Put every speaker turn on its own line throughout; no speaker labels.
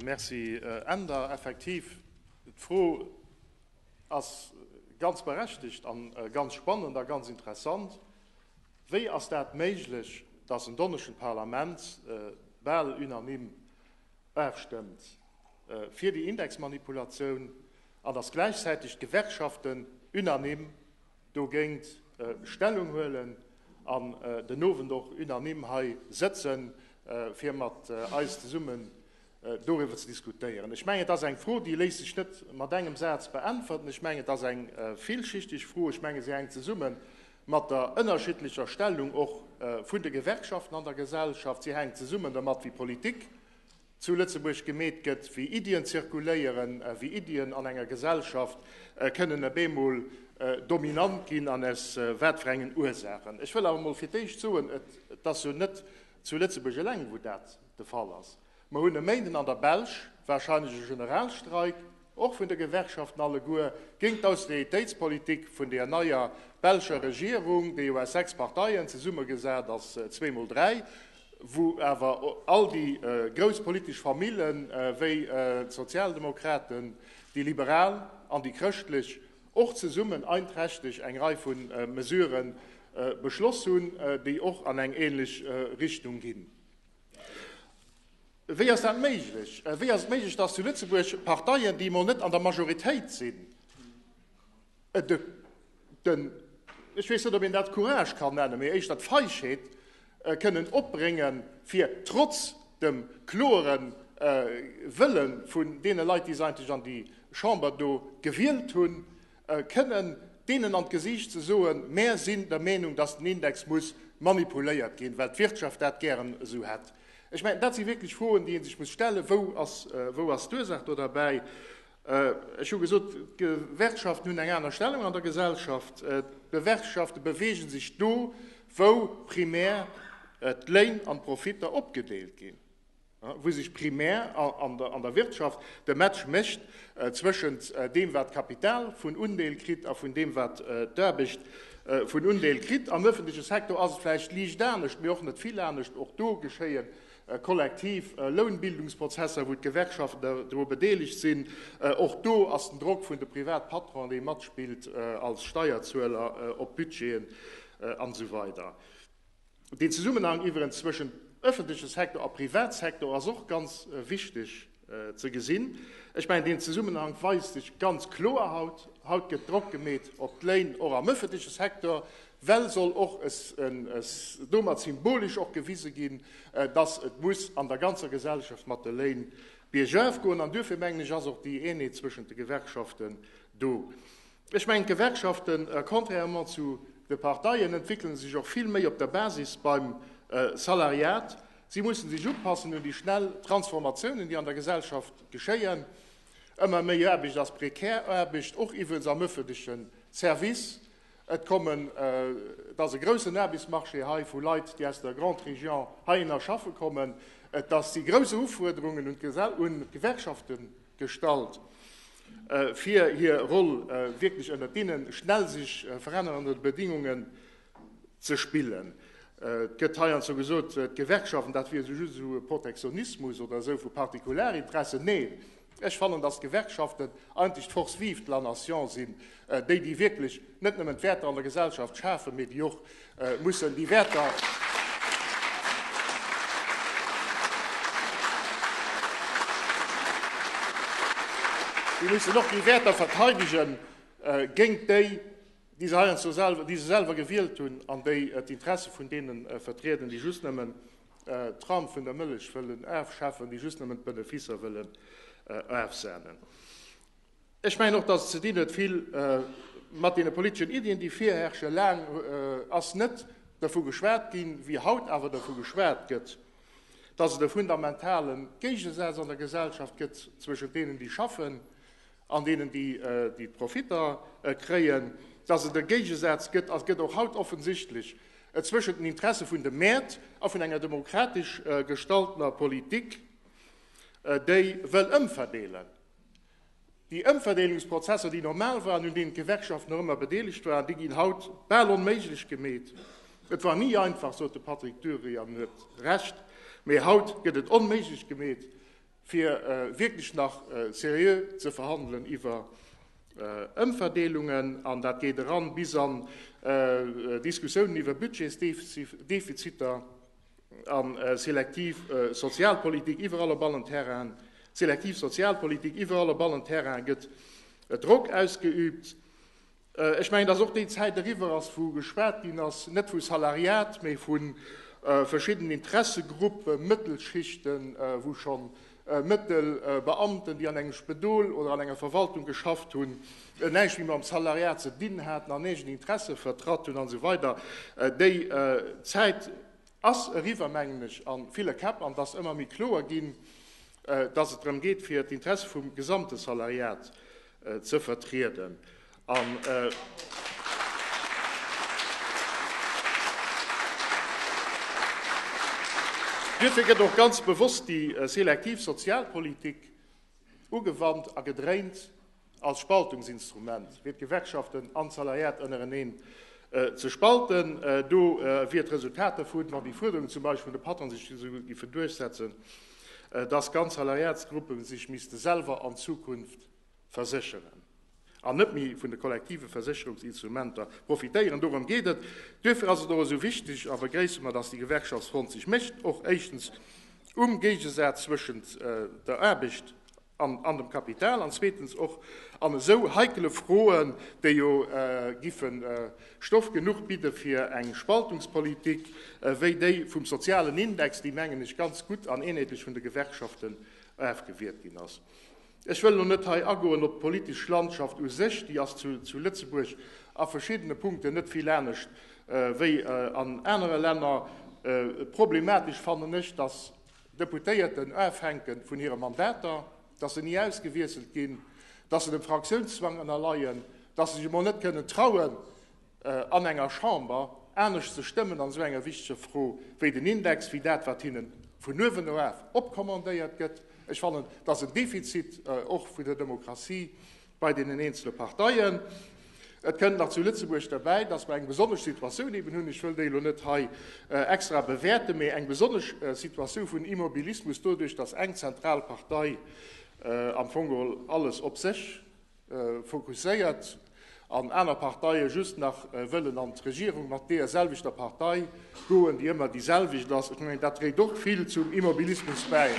Merci Änder. Effektiv, d'Fro ass ganz berechtigt a ganz spannend a ganz interessant. Wéi ass dat méiglech, dass en donneschen d'Parlament bal unanime afstëmmt fir déi Indexmanipulatioun an dass gläichzäitig d'Gewerkschaften unanime, dogéint Stellung huelen an den Owend och unanime hei sëtzen, fir mat eis zesummen doriwwer ze diskutéieren. Ech mengen, et ass eng Fro, déi léisst sech net mat engem Saz beäntwerten. Ech mengen, et ass eng villschichteg Fro. Ech menge se hänkt zesumme mat der ënnerschiddlecher Stellung och vun de Gewerkschaften an der Gesellschaft. Si hänkt zesumme domat, wéi Politik, zu Lëtzebuerg gemeet gëtt, wéi Iddien zirkuléieren, wéi Iddien an enger Gesellschaft kënnen op eemol dominant ginn an aus wat fir engen Ursaachen. Ech wëll awer emol fir d'éischt soen, et ass jo net zu Lëtzebuerg eleng, wou dat de Fall ass. Mer hunn e Méinden an der Belsch warscheinlech e Generalstreik. och vun de Gewerkschaften alleguer, géint d'Austeritéitspolitik vun deer neier belscher Regierung, déi jo aus 6 Parteien zesummegesat ass, zwee mol dräi, wou awer all déi grouss politesch Famillen, wéi d'Sozialdemokraten, déi Liberal an déi Chrëschtlech, och zesummen einträchteg eng Rei vu Mesurë beschloss hunn, déi och an eng ähnlech Richtung ginn. Wéi ass dat méiglech? Wéi ass et méiglech, dass zu Lëtzebuerg Parteien, déi emol net an der Majoritéit sinn, den, ech weess net, ob een dat Courage kann nennen, mee éischter d'Feischheet kënnen opbréngen, fir trotz dem kloere Wëlle vun deene Leit, déi se eigentlech an déi Chamber do gewielt hunn, kënnen deenen an d'Gesiicht ze soen, Mär sinn der Meenung, dass den Index muss manipuléiert ginn, well d'Wirtschaft dat gären esou hätt. Ech mengen, dat si wierklech Froen, déi ee sech muss stellen, Wou ass, wou ass d'Ursaach do derbäi? Ech hu gesot, d'Gewerkschaften hunn eng aner Stellung an der Gesellschaft. D'Gewerkschafte beweege sech do, wou primär d'Léin an d'Profitter opgedeelt ginn. wou sech primär an der Wirtschaft de Match mécht zwëschent deem, wat d'Kapital vun Undeel kritt a vun deem, wat d'Aarbecht vun Undeel kritt. Am ëffentleche Secteur ass et vläicht liicht anescht, mee och net vill anescht. Och do geschéie kollektiv Lounbildungsprozesser, wou d'Gewerkschaften dru bedeelegt sinn. Och do ass den Drock vun de Privatpatronen, dee matspillt als Steierzueler, op d'Budgeten an esou weider. Den Zesummenhang iwwerens zwëschent öffentliche Sektor a Privatsektor ass och ganz wichteg ze gesinn. Ech mengen, deen Zesummenhang weist sech ganz kloer haut. Haut gëtt Drock gemeet op d'Léin och am öffentliche Sektor, well soll och domat symbolisch och gewise ginn, dass et muss an der ganzer Gesellschaft mat de Léin biergauf goen. An duerfir, mengen ech, ass och déi Eenheet zwëschent de Gewerkschaften do. Ech mengen, d'Gewerkschaften, contrairement zu de Parteien, entwéckelen sech och vill méi op der Basis beim Salariat. Si mussen sech upassen un déi schnell Transformatiounen, déi an der Gesellschaft geschéien. Ëmmer méi Aarbecht ass prekär Aarbecht, och iwwels am ëffentleche Service. Et kommen, et ass e groussen Aarbechtsmarché hei vu Leit, déi aus der Grande Région heihinner schaffe kommen. Et si grouss Ufuerderungen un d'Gewerkschaften. gestallt fir hir Roll wierklech ënnert deenen schnell sech verännerende Bedingungen ze spillen. Et gëtt heiansdo gesot, d'Gewerkschaften, dat wier just esou e Protektionismus oder esou vu Partikularinteressen. Neen, ech fannen, datt d'Gewerkschaften eigentlech d'Force vive de la nation sinn, Déi, déi wierklech net nëmmen d'Wäerter an der Gesellschaft schafen, mee déi och mussen déi Wäerter. Déi mussen och déi Wäerter verteidegen, géint déi, déi se heiansdo selwer, déi se selwer gewielt hunn an déi d'Interesse vun deenen vertrieden, déi just nëmmen d'Ram vun der Mëllech wëllen afschafen, déi just nëmmen d'Beneficer wëllen afsahnen. Ech mengen och, dass et ze dinn huet vill mat deene politeschen Iddien, déi virherrschen. Laang ass net dervu geschwat ginn, wéi haut awer dervu geschwat gëtt, dass et e fundamentale Géigesaz an der Gesellschaft gëtt zwëschent deenen, déi schaffen, an deenen, déi d'Profitter kréien, dass et e Géigesaz gëtt, a gëtt och haut offensichtlech, zwëschent den Interesse vun de Mäert a vun enger demokratesch gestaltener Politik, déi wëll ëmverdeelen. Déi Ëmverdeelungsprozesser, déi normal waren, un deenen d'Gewerkschaften och ëmmer bedeelegt waren, déi ginn haut bal onméiglech gemeet. Et war ni einfach, sot de Patrick Dury, an en huet Recht, mee haut gëtt et onméiglech gemeet, fir wierklech nach seriö ze verhandelen iwwer Ëmverdeelungen. An dat geet eran bis an Diskussiounen iwwer Budgetsdefiziter. A selektiv Sozialpolitik iwwerall op allen Terrainen, selektiv Sozialpolitik iwwerall op allen Terrainen gëtt Drock ausgeübt. Ech mengen, dass och déi Zäit eriwwer ass, wou geschwat ginn ass, net vu Salariat, mä vu verschiddenen Interessegruppen, Mëttelschichten, wou schon Mëttel, Beamten, déi an engem Spedol oder an enger Verwaltung geschafft hunn, näischt méi mam Salariat ze dinn haten an eegen Interesse vertratt hunn an esou weider Déi Zäit ass eriwwer, mengen ech, a ville Käpp an et ass ëmmer méi kloer ginn, datt et drëm geet, fir d'Interesse vum gesamte Salariat ze vertrieden an duerfir gëtt och ganz bewosst déi selektiv Sozialpolitik ugewannt a gedréint als Spaltungsinstrument, fir d'Gewerkschaften an d'Salariat ënnereneen ze spalten. Do wier d'Resultat dervun, wann déi Fuerderungen zum Beispill vun de Patronsinstitute giffen duerchsetzen, dass ganz Salariatsgruppen sech misste selwer an Zukunft versécheren an net méi vun de kollektive Versécherungsinstrumenter profitéieren. Dorëm geet et. Duerfir ass et och esou wichteg a begréisse mer, dass déi Gewerkschaftsfront sech mécht, och éischtens um Géigesaz zwëschent der Aarbecht an dem Kapital an zweetens och an esou heikele Froen, déi jo giffe Stoff genuch bidde fir eng Spaltungspolitik wéi déi vum sozialen Index, déi, mengen ech, ganz gutt an eenheetlech vun de Gewerkschaften ofgewiert ginn ass. Ech wëll elo net hei agoen op d'politesch Landschaft u sech, déi ass zu Lëtzebuerg a verschiddene Punkten net vill anescht wéi an anere Länner. Problematesch fannen ech, datt Deputéierten ofhänken vun hire Mandater, dass se ni ausgewiesselt ginn, dass se dem Fraktiounszwang ënnerleien, dass se sech emol net kënnen trauen, an enger Chamber anescht ze stëmmen an esou enger wichteger Fro wéi den Index, wéi dat, wat hinne vun uewen eraf opkommandéiert gëtt. Ech fannen, et ass en Defizit och vun der Demokratie, bei deenen eenzele Parteien. Et kënnt nach zu Lëtzebuerg derbäi, dass mer eng besonnesch Situatioun eben hunn, ech wëll déi elo net hei extra bewäerten, mee eng besonnesch Situatioun vun Immobilismus doduerch, dass eng zentral Partei am Fong geholl alles op sech fokusséiert an aner Parteie just nach wëllen an d'Regierung mat deerselwechter Partei. D'Froen, déi ëmmer déi selwecht ass, ech mengen, dat dréit och vill zum Immobilismus bäi.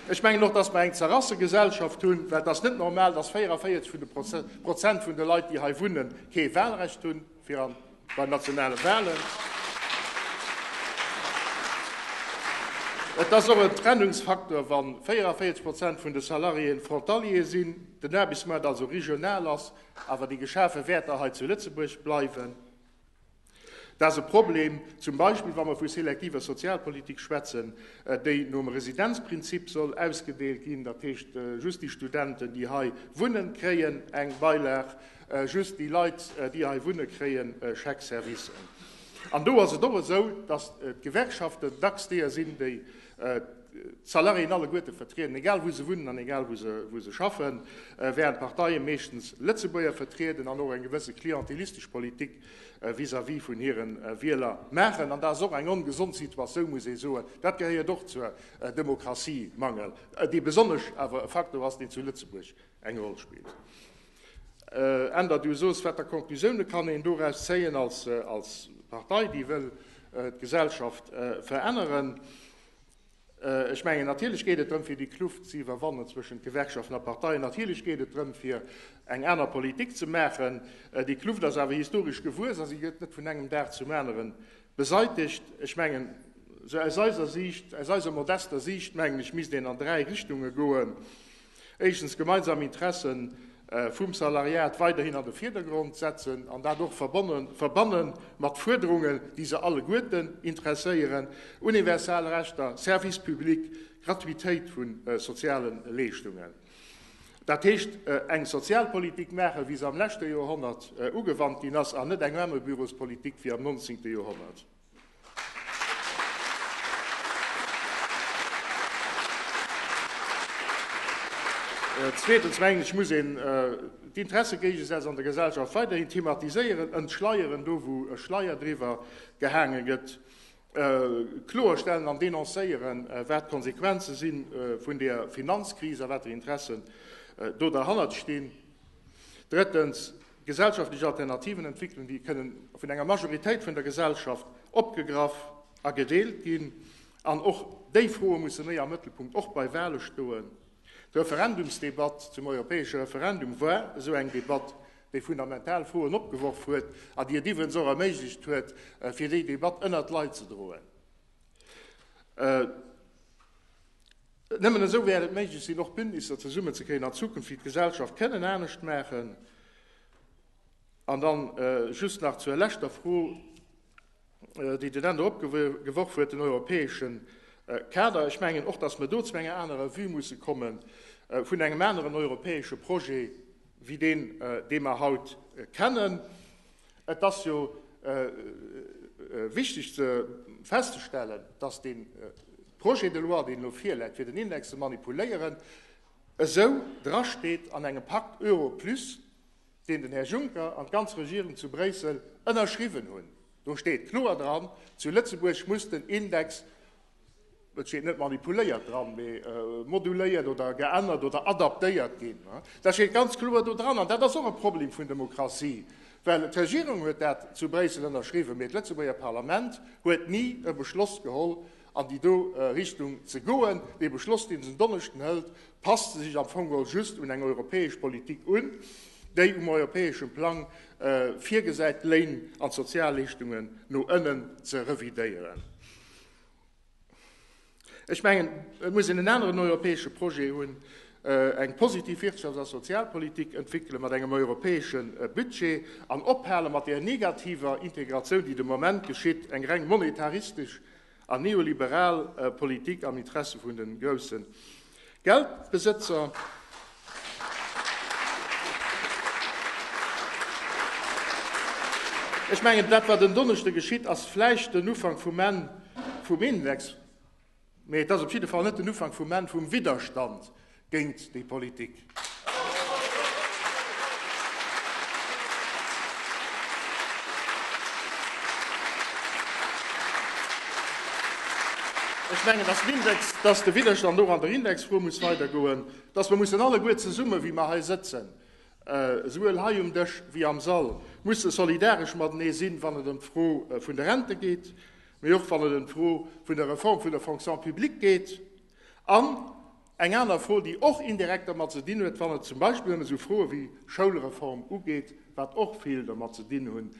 Ech mengen och, dass mer eng Zerrassegesellschaft hunn, well et ass net normal, dass 44 vun de Prozent vun de Leit, déi hei wunnen, kee Wahlrecht hunn. Fir an bei nationale Wahlen. Et ass och en Trennungsfaktor, wa 44 Prozent vun de Salariéen Frontaliere sinn, den Aarbechtsmaart also regional ass, awer déi geschafe Wäerter hei zu Lëtzebuerg bleiwen. Dat ass e Problem, zum Beispill wa mer vu selektiver Sozialpolitik schwätzen, déi nom Residenzprinzip soll ausgedeelt ginn, dat heescht just déi Studenten, déi hei wunnen, kréien eng Beilag, Just déi Leit, déi hei wunne kréien Chèque-service. An do ass et och esou, datt d'Gewerkschaften dacks deeër sinn, déi d'Salariéen alleguerte vertrieden, egal wou se wunnen an egal wou se schaffen, wärend d'Parteie meeschtens Lëtzebuerger vertrieden an och eng gewësse klientelistesch Politik vis-à-vis vun hire Wieler maachen. An dat ass och eng ongesond Situatioun, muss ee soen. Dat gehéiert och zur Demokratie-Mangel, dee besonnesch awer e Faktor ass, deen zu Lëtzebuerg Eng Roll spillt. Änder du soos, wat der Konklusioune kann een doraus zéien als Partei, déi wëll d'Gesellschaft veränneren? Ech mengen, natierlech geet et drëm, fir déi Kluft ze iwwerwannen zwëschent Gewerkschaften a Parteien. Natierlech geet et drëm, fir eng aner Politik ze maachen. Déi Kluft ass awer historesch gewuess a si gëtt net vun engem Dag zum anere beseitegt. Ech mengen, sou aus eiser Siicht, aus eiser modester Siicht, mengen ech, misst een an dräi Richtunge goen. Éischtens, gemeinsam Interesse vum Salariat weiderhin an de Virdergrond setzen an dat och verbanne mat Fuerderungen, déi se alleguerten interesséieren, universal Rechter, Service public, Gratuitéit vu soziale Leeschtungen. Dat heescht, eng Sozialpolitik maachen, wéi se am leschte Joerhonnert ugewannt ginn ass, an net eng Mammebürospolitik wéi am 19. Joerhonnert. Zweetens mengen ech, muss een d'Interessegéigesätz an der Gesellschaft weiderhin thematiséieren, entschleieren, do wou e Schleier driwwer gehaange gëtt, kloerstellen an denoncéieren, wat d'Konsequenze si vun der Finanzkris a wat fir Interessen do derhannert stinn. Drëttens. Gesellschaftlech Alternativen entwéckelen, déi kënnen vun enger Majoritéit vun der Gesellschaft opgegraff a gedeelt ginn. An och déi Froe musse méi am Mëttelpunkt, och bei Wahle stoen. D'Referendumsdebatt zum europäesche Referendum war esou eng Debatt, déi fundamental Froen opgeworf huet a déi et iwwens och erméiglecht huet, fir déi Debatt ënnert d'Leit ze droen. Nëmmen esou wäert et méiglech sinn, och Bündnisser zesummen ze kréien an Zukunft, déi d'Gesellschaft kënnen anescht maachen. An dann just nach zur leschter Fro, déi den Änder opgeworf huet, den europäesche Kader. Ech mengen och, dass mer do zu enger anerer Vue musse kommen, vun engem aneren europäesche Projet wéi deen, dee mer haut kennen. Et ass jo wichteg festzestellen, dass dee Projet de loi, deen elo virläit, fir den Index ze manipuléieren, esou drasteet an engem Pacte Euro plus, deen den Här Juncker an d'ganz Regierung zu Bréissel ënnerschriwwen hunn. Do steet kloer dran, zu Lëtzebuerg muss den Index Et steet net manipuléiert dran, mee moduléiert oder geännert oder adaptéiert ginn. Dat steet ganz kloer do dran. An dat ass och e Problem vun Demokratie, well d'Regierung huet dat zu Bréissel ënnerschriwwen, mee d'Lëtzebuerger Parlament huet ni e Beschloss geholl, an déi do Richtung ze goen. Dee Beschloss, dee se en Donneschden hëlt, passt sech am Fong geholl just un eng europäesch Politik un, déi um europäesche Plang virgesäit, d'Léin an d'Sozialleeschtunge no ënnen ze revidéieren. Ech mengen, et muss een en aneren europäesche Projet hunn, eng positiv Wirtschafts a Sozialpolitik entwéckele mat engem europäesche Budget an ophale mat där negativer Integratioun, déi de Moment geschitt, eng reng monetaristesch an neoliberal Politik am Interesse vun de groussen Geldbesëtzer. Ech mengen, dat wat en Donneschde geschitt, ass vläicht den Ufank vum Enn vum Index, mee et ass op jidde Fall net den Ufank vum Enn vum Widderstand géint déi Politik. Ech mengen, dass d'Index, dass de Widderstand och an der Indexfro muss weidergoen, dass mer mussen alleguer zesummen, wéi mer hei sëtzen, esouwuel hei um Dësch wéi am Sall, musse solidaresch matenee sinn, wann et ëm d'Fro vun de Rente geet, mee och wann et ëm d'Fro vun der Reform vun der Fonction publique geet an, Eng aner Fro, déi och indirekt dermat ze dinn huet, wann et zum Beispill ëm esou Froe wéi Schoulreform ugeet, wat och vill dermat ze dinn hunn,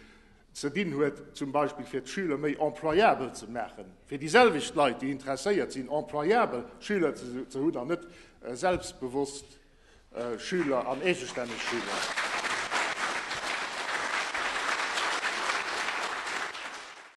ze dinn huet, zum Beispill fir d'Schüler méi employabel ze maachen, fir déi selwecht Leit, déi interesséiert sinn, employabel Schüler ze hunn an net selbstbewosst Schüler an eegestänneg Schüler.